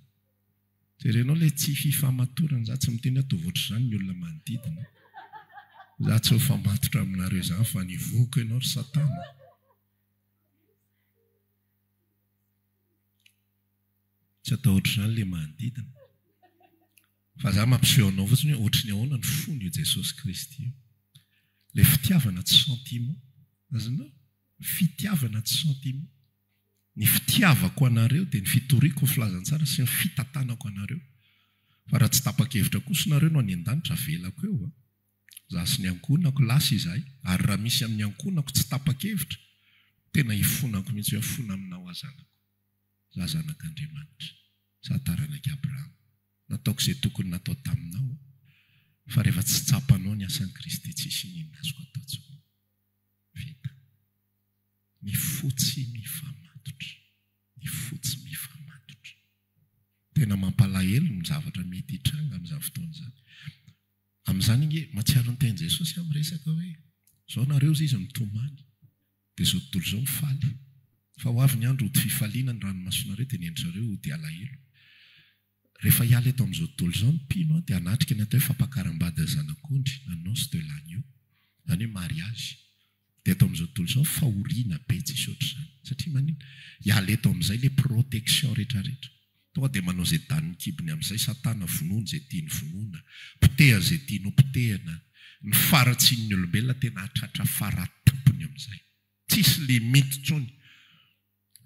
A: jerenao le tsy fifamatorana za tsy miteny hoe ataovy otrazany ny olona manodidina za tsy ho famatotra aminareo zany fa any ivoko enao ry satana. Tsy atahotra izany ilay manodidina. Fa za mampiseho anao fotsiny hoe ohatry ny ahoana ny fon'io Jesosy Kristy io. Ilay fitiavana tsy sentiment. Azonao? Fitiavana tsy sentiment. Ny fitiavako anareo dia ny fitoriako ny filazantsara sy ny fitantanako anareo. Fa raha tsy tapa-kevitra kosa nareo no any an-danitra avelako eo an. Za sy ny ankohonako, lasa izahay. Ary raha misy amin'ny ankohonako tsy tapa-kevitra, tena hifonako mihitsy hoe mifona aminao aho zanako. Raha zanak'Andriamanitra, sady taranak'i Abrahama, nataoko izay tokony natao taminao, fa rehefa tsy tsapanao ny asan'i Kristy, tsy hisy iniana azoko atao intsony. Vita. Ny fo tsy mifamatotra. Ny fo tsy mifamatotra. Tena mampalahelo ny zavatra mety hitranga amin'izany fotoana izany. Amin'izany ange, mahatsiaro ny tenin'i Jesosy aho miresaka hoe, Izao nareo hozy izy mitomany. Dia izao tontolo izao ho faly. Fa ho avy ny andro hody fifaliana, ny ranomasonareo dia ny endrizareo hody alahelo. Rehefa hiala eto amin'izao tontolo izao ny mpino an, dia hanatrika ny atao hoe fampakaram-bady zanak'ondry na noces de l'agneau, izany hoe mariazy. Dia eto amin'izao tontolo izao fahoriana be tsisy ohatr'izany. Satria maninona? Hiala eto amin'izay ilay protection rehetra rehetra. Tonga dia manao izay danin'ny kibony amin'izay Satana, vonoiny izay tiany vonoina, potehany izay tiany hopotehina. Ny faharatsian'ny olombelona tena hahatratra faratampony amin'izay. Tsisy limite intsony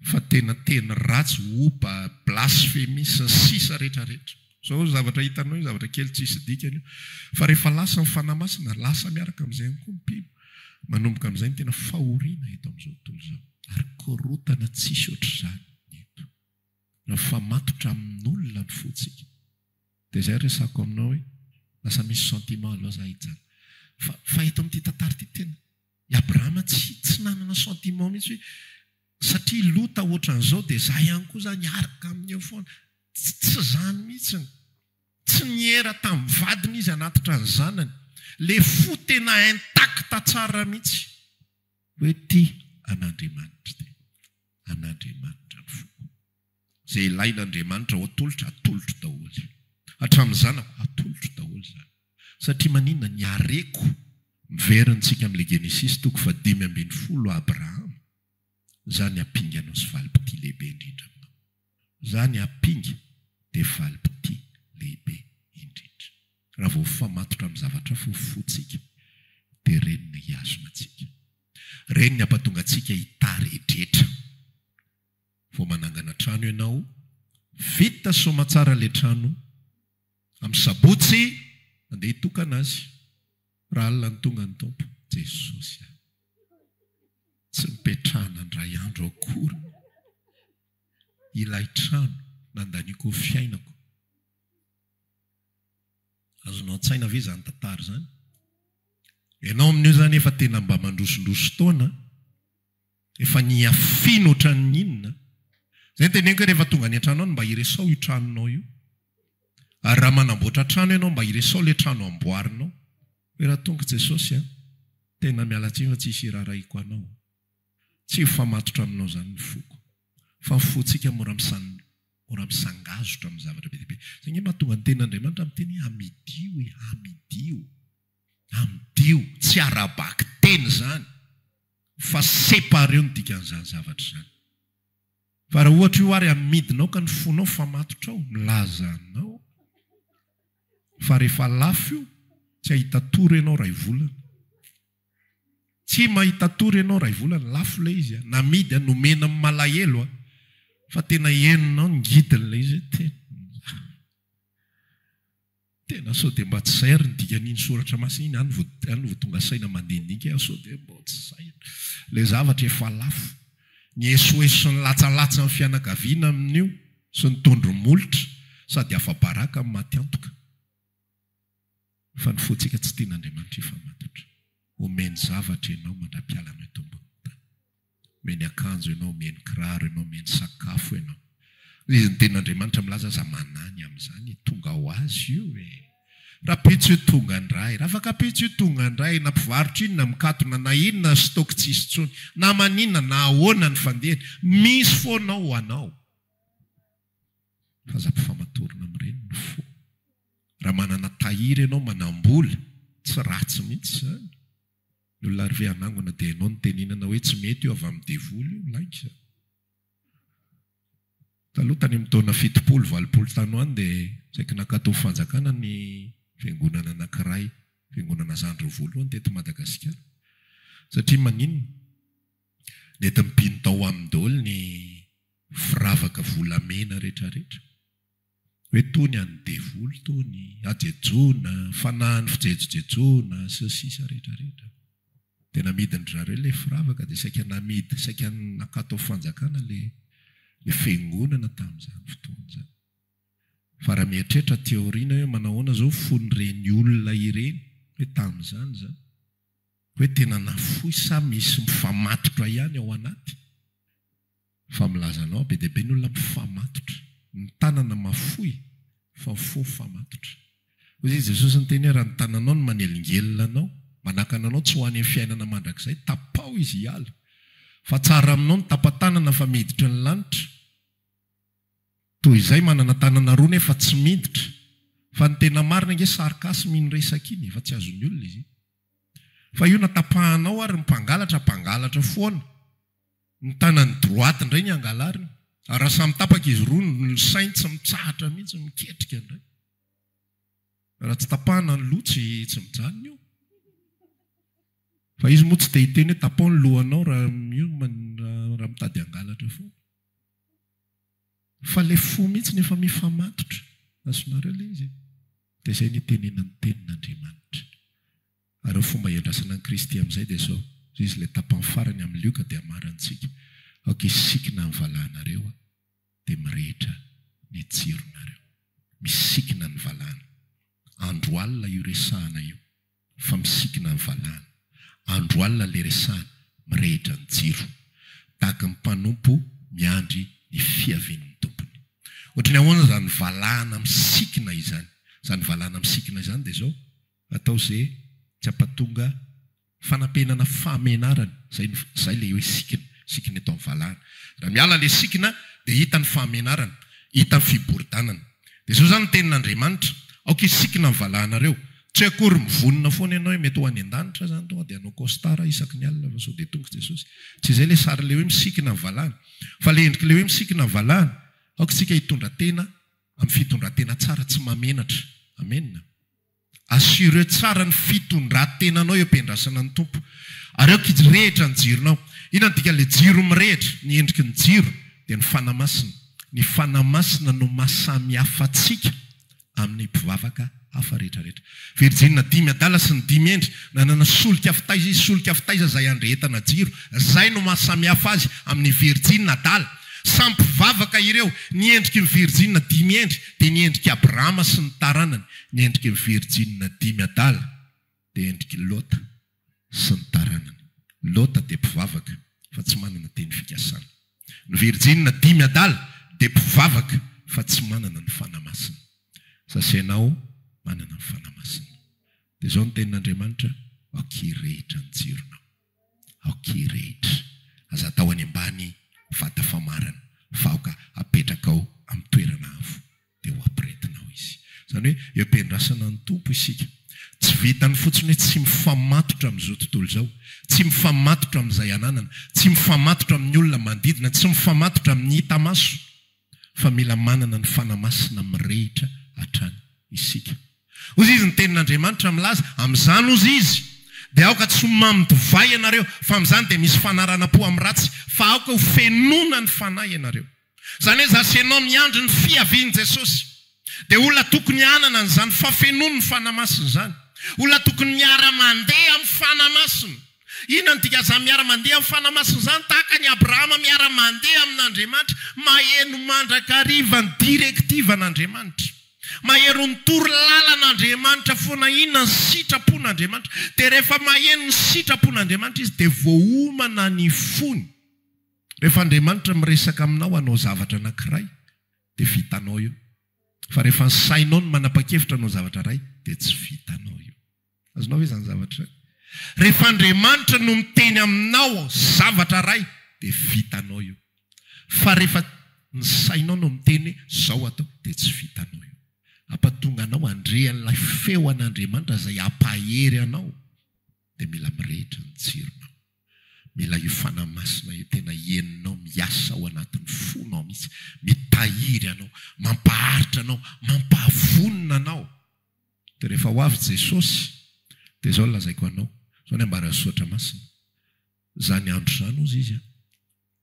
A: fa tena teny ratsy, opa, blasfemie, sy ny sisa rehetra rehetra. Izao zavatra hitanao io zavatra kely tsisy dikany io, fa rehefa lasa ny Fanahy Masina, lasa miaraka amin'izay ihany koa ny mpino. Manomboka amin'izay ny tena fahoriana eto amin'izao tontolo izao. Ary korontana tsisy ohatr'izany ny eto. Mifamatotra amin'olona ny fontsika. Dia izay resako aminao hoe lasa misy sentiment aloha za hijanona. Fa fa eto amin'ity tantara ity tena i Abrahama tsy tsy nanana sentiment mihitsy hoe satria Lota ohatran'izao dia za ihany koa zany hiaraka aminy eo foana. Tsy tsy izany mihitsy. Tsy niera tamin'ny vadiny izy hanatitra ny zanany. Le fo tena intact tsara mihitsy hoe tia an'Andriamanitra tena. an'Andriamanitra ny foko. Izay ilain'Andriamanitra ho atolotro, atolotro daholo. Hatramin'ny zanako, atolotro daholo izany. Satria maninona? Ny hareko. Miverina antsika amin'ilay Genesisy toko fahadimy ambin'ny folo, Abrahama, izaho ny ampinganao sy valim-pitia lehibe indrindra aminao. Zany apinga de faly p'ty lehibe indrindra raha vao f'amatotra amin'ny zavatra fo fotsika de reny no hihazona antsika reny ny ampatonga antsika hitary edretra vao manangana trano ianao vita soamatsara le trano amin'ny sabotsy andeha hitokana azy raha alina ny tonga ny tompo jesosy ah tsy nipetrahana ndray andro akory ilay trano nandaniako fiainako. Azonao an-tsaina ve izany tantara izany? Ianao amin'io izany efa tena mba mandrosondroso taona, efa niafina ohatran'ny inona. Izay no teneniko hoe rehefa tonga any an-trano any mba iresao io tranonao io. Ary raha manamboatra trano ianao mba iresao ilay trano amboarinao. Hoe raha tonga Jesosy an, tena miala tsiny fa tsy hisy hiraharahiako anao. Tsy ho famatotra aminao izany ny foko, fa ho fontsika mora mora misangazotra amin'ny zavatra be dia be. Izay angamba no tonga ny tenin'Andriamanitra amin'ny teny hoe hamidio e, hamidio, hamidio. Tsy ara-bakiteny izany, fa sépareo ny dikan'izany zavatra izany. Fa raha ohatra io ary amidinao ka ny fonao famatotrao, milaza anao fa rehefa lafo io, tsy hahita tory ianao iray volana. Tsy mahita tory enao Raivolana, lafo ilay izy a, namidy a, nomena amin'ny malahelo a, fa tena henonao ny ngidiny ilay izy hoe tena, tena sao dia mba tsy izay ary ny dikan'iny soratra masina iny, any vao, any vao tonga saina mandinika aho sao dia mba tsy izay ary, ilay zavatra efa lafo, ny esoeso sy ny latsalatsan'ny fianakaviana amin'io sy ny tondro molotra sady afa-baraka no maty antoka. Fa ny fontsika tsy tian'Andriamanitra hifamatotra. Omeny zavatra ianao mandra-piala anao eto ambonin'ny tany. Omeny akanjo ianao, omeny kiraro ianao, omeny sakafo ianao. Izy ny tenin'Andriamanitra milaza aza manany amin'izany, tonga ho azy io e! Rapitso io tonga indray, ravakapitso io tonga indray, na mpivarotra inona mikatona, na inona stock tsy hisy intsony, na maninona, na ahoana ny fandehany, misy foana ao ho anao. Fa aza ampifamatorina amin'ireny ny fo. Raha manana tahiry ianao manambola, tsy ratsy mihitsy izany. Ny olona ary ve hanangona dia hainao ny teninana hoe tsy mety io avy amin'ny devoly io, lainga. Taloha tany amin'ny taona fitopolo, valopolo tany ho any dia saiky nankatoa fanjakana ny fiangonana anankiray, fiangonana zandry roa voalohany teto Madagasikara. Satria maninona? Nety mpino tao aminy daholo ny firavaka volamena rehetra rehetra. hoe tony an'ny devoly tony, hajejona, fanahin'ny fijejojejona sy ny sisa rehetra rehetra. Dia namidin-dry zareo ilay firavaka dia saika namidy, saika nakato amin'ny fanjakana ilay ilay fiangonana tamin'izany fotoana izany. Fa raha mieritreritra aty aoriana hoe manahoana izao ny fon'ireny olona ireny hoe tamin'izany izany, hoe tena nafoy sa misy mifamatotra ihany ao anaty? Fa milaza anao be dia be ny olona mifamatotra, ny tanana mafoy fa fo mifamatotra. Hoy izy, Jesosy niteny hoe, raha ny tananao no manelingelina anao, manakana anao tsy ho any amin'ny fiainana mandrakizay, tapaho izy hiala. Fa tsara aminao ny tapa-tanana fa miditra ny lanitra. Toy izay manana tanana roa nefa tsy miditra. Fa ny tena marina ange sarcasme iny resaka iny e, fa tsy azon'ny olona izy iny. Fa io na tapahanao ary ny mpangalatra, mpangalatra foana. Ny tanany droite indray ny angalariny ary raha samy tapaka izy roa ny sainy tsy mitsahatra mihitsy miketrika indray. Raha tsy tapahana ny loha tsy tsy mijanona io. Fa izy moa tsy te hiteny hoe tapaho ny lohanao raha io raha mitady hangalatra foana. Fa ilay fo mihitsy no efa mifamatotra. Azonareo ilay izy e? Dia izay no itenenan'ny tenin'Andriamanitra. Ary ny fomba hiandrasana an'i Kristy amin'izay dia izao, izay izy ilay tapany farany amin'ny lioka dia hamarantsika, Aoka hisikina ny valahanareo dia mirehitra ny jironareo. Misikina ny valahana. Andro alina io resahana io fa misikina ny valahana. Andro alina ilay resahana, mirehitra ny jiro. Tahaka ny mpanompo miandry ny fiavian'ny tompony. Ohatry ny ahoana izany valahana misikina izany? Izany valahana misikina izany dia izao, Atao ze tsy ampatonga fanampenana fahamenarany zay ny zay le hoe sikina sikina eto am valahana ra miala le sikina de hita ny fahamenarana hita ny fiboridanana de zao zany ny tenin Andriamanitra aoka hisikina ny valahanareo tsy hoe akory mivonona foana ianao hoe mety ho any andanitra zany tonga de hanao costard isaky ny alina fa sao de tonga Jesosy tsy zay le sary le hoe misikina ny valahana fa le endriky le hoe misikina ny valahana aoka tsika hitondra tena am fitondrantena tsara tsy mamenatra amena. Assureo tsara ny fitondran-tenanao eo am-piandrasana ny Tompo. Areo kjirehitra ny jironao. Inona no dikan'ilay jiro mirehitra? Ny endriky ny jiro dia ny Fanahy Masina. Ny Fanahy Masina no mahasamihafa antsika amin'ny mpivavaka hafa rehetrarehetra. Virjinina dimy adala sy ny dimy hendry nanana solika fitaiza izy, solika fitaiza izay andrehetana jiro. Izay no mahasamihafa azy amin'ny virjinina adala. Samy mpivavaka ireo. Ny endriky ny virjinina dimy hendry dia ny endrik'i Abrahama sy ny taranany. Ny endriky virjinina dimy adala dia endriky Lota sy ny taranany. Lota dia mpivavaka fa tsy manana teny fikasana. Ny virjinina dimy adala dia mpivavaka fa tsy manana ny Fanahy Masina. Sasa ianao manana ny Fanahy Masina. Dia izao ny tenin'Andriamanitra, Aoka hirehitra ny jironao. Ok rehetra aza atao any ambany vata famarana fa aoka apetrakao amin'ny toerana avo dia ho apretinao izy. Izany hoe eo am-piandrasana ny Tompo isika. Tsy vitan'ny fotsiny hoe tsy mifamatotra amin'izao tontolo izao, tsy mifamatotra amin'izay ananana, tsy mifamatotra amin'ny olona manodidina, tsy mifamatotra amin'ny hita maso. fa mila manana ny Fanahy Masina mirehitra hatrany isika. Hozy izy, ny tenin'Andriamanitra milaza, Amin'izany hozy izy, dia aoka tsy ho mamo divay ianareo, fa amin'izany dia misy fanarana-po amin'ny ratsy, fa aoka ho fenona ny Fanahy ianareo. Izany hoe, za sy ianao miandry ny fiavian'i Jesosy. Dia olona tokony hanana an'izany fafenoan'ny Fanahy Masina izany. Olona tokony miara-mandeha amin'ny Fanahy Masina. Inona no dikan'izany miara-mandeha amin'ny Fanahy Masina izany? Tahaka an'i Abrahama miara-mandeha amin'Andriamanitra, maheno mandrakariva ny directiven'Andriamanitra. Maheno ny toro lalan'Andriamanitra foana inona ny sitrapon'Andriamanitra. Dia rehefa maheno ny sitrapon'Andriamanitra izy dia voaomana ny fony. Rehefa Andriamanitra miresaka aminao hanao zavatra anankiray, dia vitanao io. Fa rehefa ny sainao no manapa-kevitra hanao zavatra iray dia tsy vitanao io. Azonao ve izany zavatra izany? Rehefa Andriamanitra no miteny aminao zavatra iray dia vitanao io. Fa rehefa ny sainao no miteny hoe izao atao dia tsy vitanao io. Hampatonga anao handre an'ilay feon'Andriamanitra izay hampahery anao. dia mila mirehitra ny tsironao. Mila io Fanahy Masina io tena henonao miasa ao anatin'ny fonao mihitsy, mitahiry anao, mampaharitra anao, mampahavonona anao. Dia rehefa ho avy Jesosy, dia izao no lazaiko anao, izao ny ambaran'ny Soratra Masina, Izany andro izany, hozy Izy an,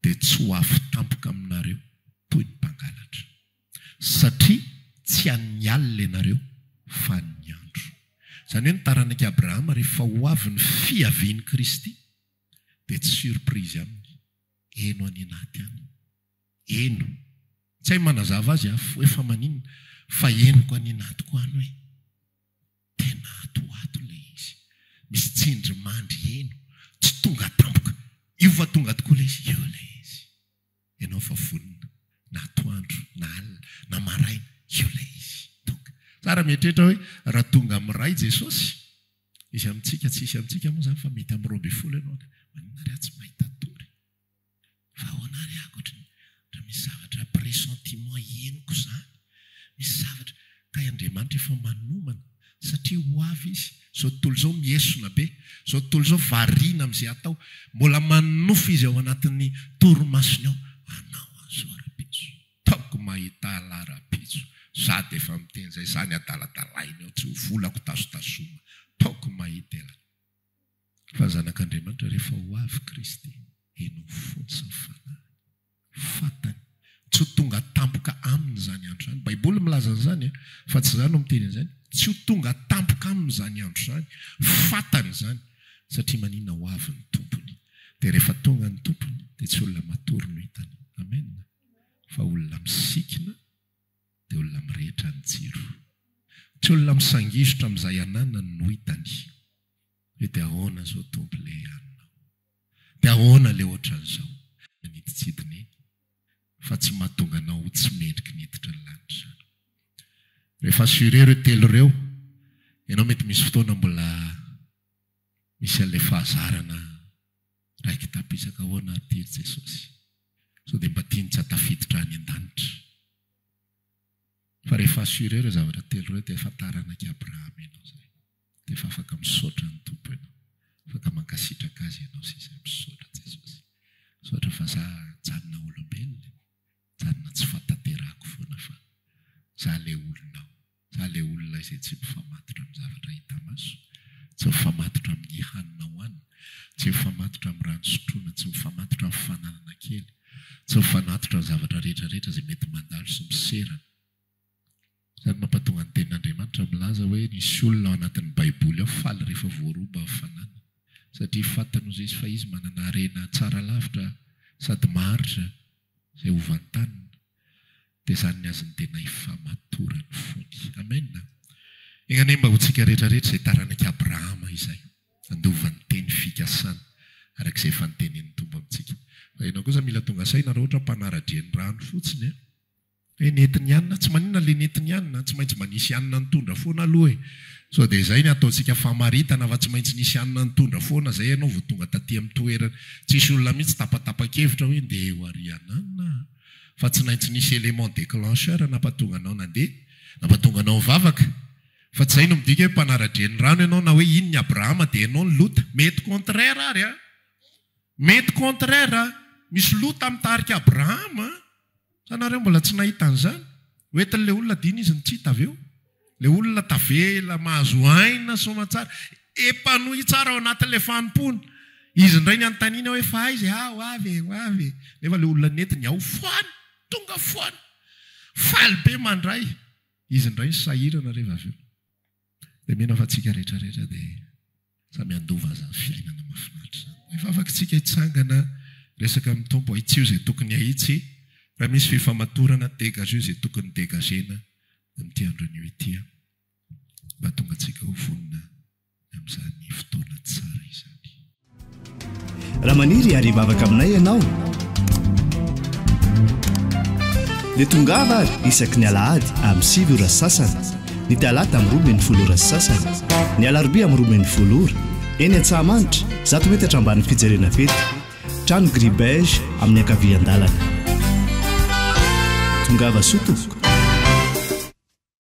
A: dia tsy ho afo tampoka aminareo toy ny mpangalatra. Satria tsy an'ny alina ianareo, fa an'ny andro. Izany hoe ny taranak'i Abrahama rehefa ho avy ny fiavian'i Kristy dia tsy surprise aminy. Heno any anaty any. Heno. Tsy hay manazava azy aho, hoe fa maninona? Fa henoko any anatiko any hoe. Tena ato ho ato ilay izy. Misy tsindrimandry heno, tsy tonga tampoka. Io fa tonga tokoa ilay izy. Io ilay izy. Ianao fa vonona, na atoandro, na alina, na maraina, io ilay izy. Tonga. Tsara mieritreritra hoe raha tonga amin'ny iray Jesosy, izy amintsika, tsy hisy amintsika moa izany fa mety amin'ny roa ambin'ny folo ianao, maninona ary aho tsy mahita tory? Fa ahoana ary aho koa raha misy zavatra pressentiment henoko izany, misy zavatra kay Andriamanitra efa manomana satria ho avy Izy, izao tontolo izao miesona be, izao tontolo izao variana amin'izay atao, mbola manonofy Izy ao anatin'ny torimasony ao, anao an'izao rahampitso, taoko mahita alah rahampitso, za dia efa miteny izay, za ny adaladalainy ao, tsy ho volako tazotazoma, taoko mahita elah. Fa zanak'Andriamanitra rehefa ho avy Kristy, heno ny fony sy ny fanahiny. Fantany. Tsy ho tonga tampoka aminy izany andro izany. Baiboly milaza an'izany fa tsy izaho no miteny an'izany. Tsy ho tonga tampoka aminy izany andro izany. Fantany izany. Satria maninona ho avy ny tompony. Dia rehefa tonga ny tompony dia tsy olona matory no hitany. Amen. Fa olona misikina dia olona mirehitra ny jiro. Tsy olona misangizotra amin'izay ananany no hitany. Hoe dia ahoana zao Tompo le anona? Dia ahoana le ohatran'izao? Manidintsidina eny fa tsy mahatonga anao ho tsy mendriky ny hiditra ny lanitra izany. Rehefa assuré ireo telo ireo, ianao mety misy fotoana mbola misy an'ilay fahazarana raiki-tapisaka ahoana ary ity ry Jesosy? Sao dia mba tiany tsy hatafiditra any an-danitra? Fa rehefa assuré ireo zavatra telo ireo dia efa taranak'i Abrahama ianao izay. Dia efa afaka misaotra ny Tompo ianao. Afaka mankasitraka Azy ianao sy izay misaotra Jesosy. Misaotra fa za mijanona olombelona e. Mijanona tsy fatanterahako foana fa za le olonao. Za le olona izay tsy mifamatotra amin'ny zavatra hita maso, tsy mifamatotra amin'ny hanina hohanina, tsy mifamatotra amin'ny rano sotroina, tsy mifamatotra amin'ny fananana kely, tsy mifanatotra ny zavatra rehetra rehetra izay mety mandalo sy miserana. Izany mampatonga ny tenin'Andriamanitra milaza hoe nisy olona ao anatin'ny Baiboly ao faly rehefa voaroba hafanana, satria fantany hoy Zezy fa izy manana harena tsara lavitra sady maharitra izay hovantanina. Dia izany ny azon'ny tena hifamatorany fony. Amen. Enga anie mba ho tsika rehetra rehetra izay taranak'i Abrahama izay, handova ny teny fikasana araka izay efa notenenin'ny Tompo amintsika. Fa ianao kosa mila tonga saina raha ohatra mpanara-drenirano fotsiny an. Ry Netinianina, tsy maninona ilay Netinianina, tsy maintsy mba nisy anina nitondra foana aloha e! Sao dia izay ny ataontsika famaritana fa tsy maintsy nisy anina nitondra foana izay ianao vao tonga taty amin'ny toerana. Tsisy olona mihitsy tapatapa-kevitra hoe ndeha ho ary hananina aho fa tsy naintsy nisy élément déclencheur nampatonga anao nandeha, nampatonga anao nivavaka. Fa tsy izay no midika hoe mpanara-drenirano ianao na hoe iny ny Abrahama dia ianao ny Lota. Mety contraire ary an! Mety contraire an! Misy Lota mitarika Abrahama an! Sa nareo mbola tsy nahita an'izany? Hoentin'ilay olona adino izy ny tsy hita avy eo. Ilay olona tavela, mahazo aina soamantsara, epanoui tsara ao anatin'ilay fanompoana. Izy indray ny anontaniana hoe fa aiza e? Ao avy e, ho avy e. Nefa ilay olona nentiny ao foana, tonga foana, faly be mandray. Izy indray ny sahirana reva avy eo. Dia mino aho fa tsika rehetra rehetra dia samy handova izany fiainana mahafinaritra izany. Rehefa afaka tsika hitsangana, resaka amin'ny Tompo, ahitsio izay tokony ahitsy, raha misy fifamatorana, dégageo izay tokony dégagena amin'ity andro anio ity an! Mba hahatonga antsika ho vonona amin'izany fotoana tsara izany.
B: Raha maniry ary hivavaka aminay ianao, dia tongava ary isaky ny alahady amin'ny sivy ora sy sasany, ny talata amin'ny roa min'ny folo ora sy sasany, ny alarobia amin'ny roa min'ny folo ora, eny Antsahamanitra, zato metatra ambanin'ny fijerena fety, trano gris beige amin'ny ankavian-dalana. Tongava soa tompoko.